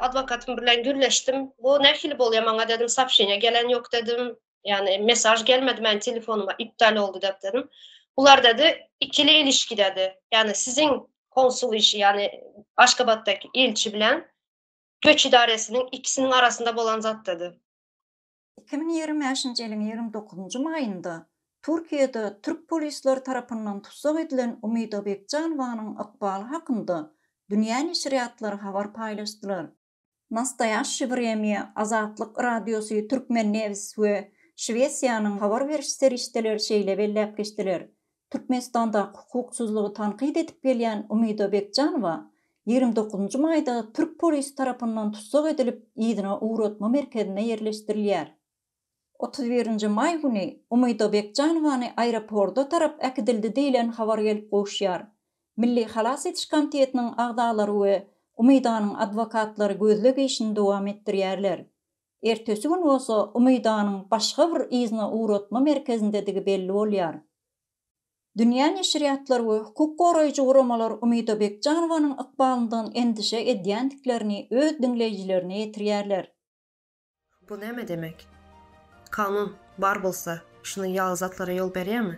adwokatym bilen gürleşdim. Bu nähili bolýar maňa dedim, soobşeniýa gelen ýok dedim. Ýani mesaj gelmedi meniň telefonuma, iptal boldy dep dedim. Bular dedi, ikili ilişki dedi. Ýani siziň konsul işi, ýani Aşgabatdaky ilçi bilen göç idaresiniň ikisiniň arasynda bolan zat dedi. Iki müň ýigrimi bäşinji ýylyň ýigrimi dokuzynjy maýynda Türkiýede türk polisleri tarapyndan tussag edilen Umida Bekjanowanyň ykbaly hakynda dünýä neşirýatlary habar paýlaşdylar. Nastoýaşşi Wremýa, Azatlyk Radiosy, Türkmennews we Şwesiýanyň habar beriş serişdeleri şeýle belläp geçdiler, Türkmenistandaky hukuksyzlygy tankyt edip gelýän Umyda Bekjanowa ýigrimi dokuzynjy maýda türk polisi tarapyndan tussag edilip, yzyna ugratma merkezine ýerleşdirilýär. Otuz birinji maý güni Umyda Bekjanowany aeroporda tarap äkidildi diýlen habar gelip gowuşýar. Milli halas ediş komitetiniň agzalary we Umydanyň adwokatlary gözleg işini dowam etdirýärler. Ertesi gün bolsa Umydanyň başga bir yzyna ugratma merkezindedigi belli bolýar. Dünýä neşirýatlar we hukuk goraýjy guramalar Umyda Bekjanowanyň ykbalyndan endişe edýändiklerini öz diňleýjilerine ýetirýärler. Bu näme demek? Kanun, bar bolsa, şunuň ýaly zatlara ýol berýärmi?